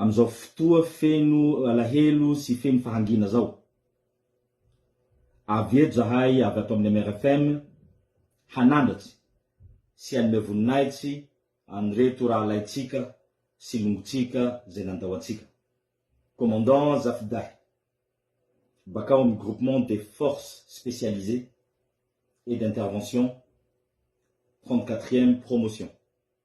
Amin'izao fotoa feno alahelo sy feno fahangiana izao, avy eto izahay avy ato amin'ny MRFM hanandratra sy hanome voninahitsy an'ireto rahalahintsika sy longontsika izay nandao antsika. Commandant Zafidahy, bakao amin'ny Groupement des Forces Spécialisées et d'Intervention trente-quatrième Promotion.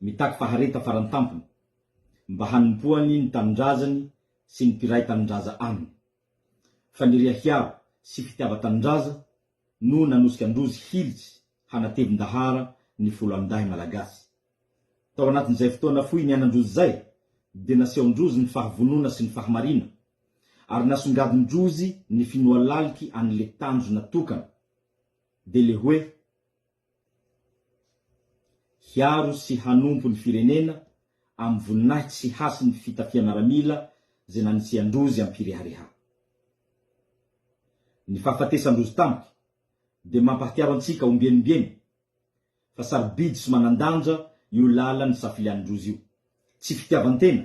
mitaky fahareta farany tampony mba hanompoany ny tanindrazany sy ny mpiray tanindraza aminy. Faniriha hiaro sy fitiava-tanindraza no nanosika an-drozy hilitsy hanatevin-dahara ny folo amin-dahy malagasy. Tao anatin'izay fotoana fohy niainan-drozy izay dia nasehon-drozy ny fahavonona sy ny fahamariana ary nasongadin-drozy ny finoa laliky an'le tanjona tokana dia le hoe hiaro sy hanompo ny firenena amin'ny voninahitsy sy hasin'ny fitafiam-miaramila izay nanisian-drozy am-pirehareha. Ny fahafatesan-drozy tampoka dia mampahatsiaro antsika ombieny-ombieny fa sarobidy sy manan-danja io lalan'ny safilian-drozy io. Tsy fitiavan-tena.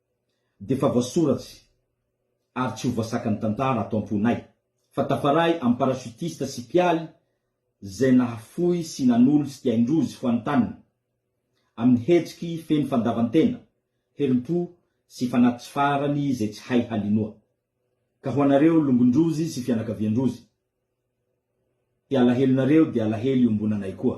dia efa voasoratsy ary tsy ho voasakan'ny tantara ato am-ponay fa tafaray amin'ny parachutiste sy mpialy izay nahafoy sy nanolo tsy dia indrozy foantaniny amin'ny hetsiky feno fandavan-tena, herim-po sy fanahy tsy farany izay tsy hay halinoa. Ka ho anareo longon-drozy sy fianakavian-drozy, dia alahelonareo dia alahelo iombonanay koa.